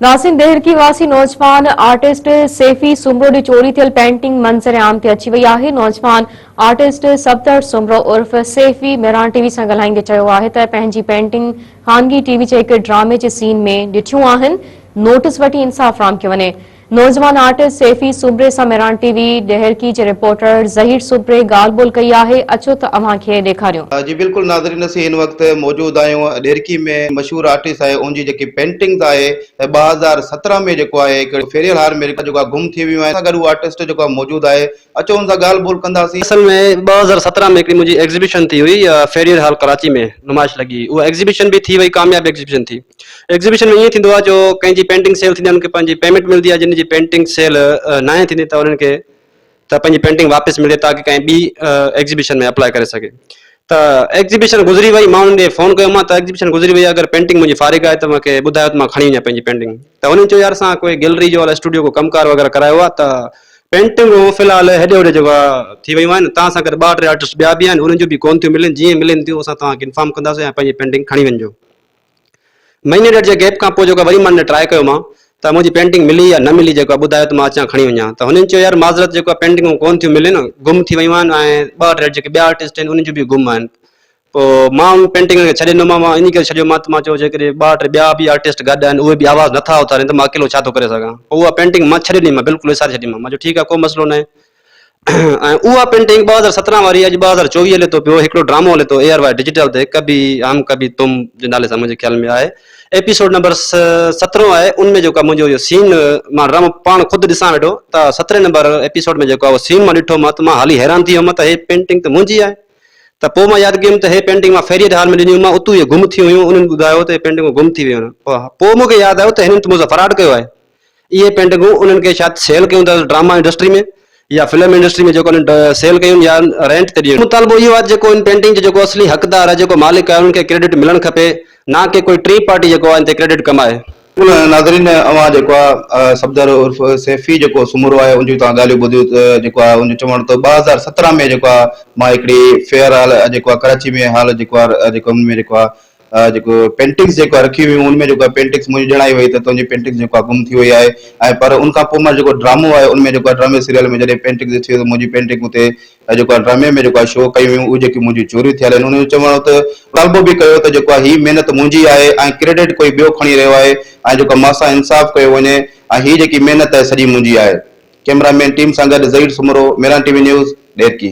ناسين دهرڪي واسي نوجوان آرٽسٽ سيفي سومرو ڏي چوري ٿيل پينٽنگ منظر عام تي اچي وئي آهي. نوجوان آرٽسٽ سبتر سومرو عرف سيفي مهراڻ ٽي وي سان ڳالهائيندي چيو آهي ته پنهنجي پينٽنگ خانگي ٽي وي جي هڪ ڊرامي جي سين ۾ ڏٺيون آهن، نوٽس وٺي انصاف فراهم ڪيو وڃي. نوجوان آرٽسٽ سيفي سومري سان مهراڻ ٽي وي ڏهرڪي جي رپورٽر ظهير سومري ڳالهه ٻولهه ڪئي آهي، اچو ته اوهان کي ڏيکاريون. جي بلڪل ناظرين اسين هن وقت موجود آهيون ڏيرڪي ۾ مشهور آرٽسٽ آهي اون جي جيڪي پينٽنگز آهي ته ٻه هزار سترهن ۾ جيڪو آهي هڪڙي ڦيريل هار ۾ جيڪو آهي گم ٿي ويون آهن سان گڏ اهو آرٽسٽ جيڪو آهي موجود آهي اچو ان سان ڳالهه ٻولهه ڪنداسين. اصل ۾ ٻه هزار سترهن ۾ هڪڙي منهنجي ايگزيبيشن ٿي هئي فيريل هال ڪراچي ۾ نمائش لڳي هئي اها ايگزيبيشن به ٿي وئي ڪامياب ايگزيبيشن ٿي ايگزيبيشن ۾ ائين ٿيندو آهي جو ڪنهن جي پينٽنگ سيل ٿيندي آهي ان کي پنهنجي پيمينٽ ملندي آهي جن جي پينٽنگ سيل ناهي ٿيندي ته انهن کي ته پنهنجي پينٽنگ واپس ملي تاڪه ڪنهن ٻي ايگزيبيشن ۾ اپلاء ڪري سگهي ته ايگزيبيشن گذري وئي مان انهن ڏي فون ڪيو مان ته ايگزيبيشن گذري وئي اگر پينٽنگ منهنجي فارغ آهي ته مونکي ٻڌايو ته مان کڻي وڃان پنهنجي پينٽنگ ته هنن چيو يار اسان ڪوئي گيلري جو الاء اسٽوڊيو ڪو ڪم ڪار وغيره ڪرايو آهي ته پينٽنگون في الحال هيڏي هوڏي جيڪو آهي ٿي ويون آهن توهان سان گڏ ٻه ٽي آرٽسٽ ٻيا به آهن انهن جون به ڪون ٿيون ملن جيئن ملن ٿيون اسان توهان کي انفارم ڪنداسين ۽ پنهنجي پينٽنگ کڻي وڃجو. مهيني ڏيڍ جي گيپ کان پوء جيڪو وري مان هن ٽرائي ڪيو مان ته منهنجي پينٽنگ ملي يا نه ملي جيڪو آهي ٻڌايو ته مان اچان کڻي وڃان ته هنن چيو يار معذرت جيڪو آهي پينٽنگون ڪون ٿيون ملن گم ٿي ويون آهن ۽ ٻه ٽي جيڪي ٻيا آرٽسٽ آهن انهن جون به گم آهن پوء مان انهن پينٽنگن کي ڇڏي ڏنو مان مان ان ڪري ڇڏيو مان ته مان چيو جيڪڏهن ٻه ٽي ٻيا به آرٽسٽ گڏ آهن اهي به آواز نٿا اٿارين ته مان اڪيلو ڇا ٿو ڪري سگهان پوء اها پينٽنگ مان ڇڏي ڏني مان بلڪل وساري ڇڏي مان مان چيو ٺيڪ آهي ڪو مسئلو ناهي ۽ اها پينٽنگ ٻه هزار سترهن واري اڄ ٻه هزار چوويهه هلي ٿو پيو هڪڙو ڊرامو هلي ٿو اي آر واء ڊجيٽل تي ڪبي هم ڪبي تم جي نالي سان منهنجي خيال ۾ آهي ايپيسوڊ نمبر سترهن آهي ان ۾ جيڪو منهنجو اهو سين مان ڊرامو پاڻ خود ڏسان ويٺو ته سترهن نمبر ايپيسوڊ ۾ جيڪو اهو سين مان ڏٺو مان ته مان هالي حيران ٿي ويم ته هي پينٽنگ ته منهنجي آهي ته پوء مان ياد ڪيم ته هي پينٽنگ مان فيريئر هال ۾ ڏنيون مان اتو هي گم ٿيون هيون انهن ٻڌايو ته هي پينٽنگون گم ٿي ويون آهن پوء مون کي ياد آيو ته هنن ته مون سان فراڊ ڪيو آهي اهي پينٽنگون انهن کي شايد سيل ڪيون ته ڊراما انڊسٽري ۾ يا فلم انڊسٽري ۾ جيڪو انهن سيل ڪيون يا رينٽ تي ڏيڻيون. مطالبو اهو آهي ته جيڪو ان پينٽنگ جو جيڪو اصلي حقدار آهي، جيڪو مالڪ آهي، انهن کي ڪريڊٽ ملڻ کپي، نه ڪي ڪوئي ٽين پارٽي جيڪو آهي ان تي ڪريڊٽ ڪمائي. ناظرين اوهان جيڪو آهي صفدر عرف سيفي جيڪو سومرو آهي ان جون توهان ڳالهيون ٻڌيون ته جيڪو آهي ان جو چوڻ هو ته ٻه هزار سترهن ۾ جيڪو آهي مان هڪڙي فيئر هال جيڪو آهي ڪراچي ۾ هال جيڪو آهي جيڪو ان ۾ جيڪو آهي جيڪو پينٽنگس جيڪا رکي هيون ان ۾ جيڪا پينٽنگس منهنجي ڄڻائي وئي ته تنهنجي پينٽنگس جيڪا گم ٿي وئي آهي ۽ پر ان کان پوء مان جيڪو ڊرامو آهي ان ۾ جيڪا ڊرامي سيريل ۾ جڏهن پينٽنگس ڏٺيون ته منهنجي پينٽنگ اتي جيڪا ڊرامي ۾ جيڪا شو ڪيون ويون اهي جيڪي منهنجي چوري ٿيل آهن انهن جو چوڻ هو ته مطالبو به ڪيو ته جيڪا هي محنت منهنجي آهي ۽ ڪريڊٽ ڪوئي ٻيو کڻي رهيو آهي ۽ جيڪا مان سان انصاف ڪيو وڃي ۽ هي جيڪي محنت آهي سڄي منهنجي آهي ڪيمرا مين ٽيم سان گڏ Zaheer Soomro Meeran T V news Daharki.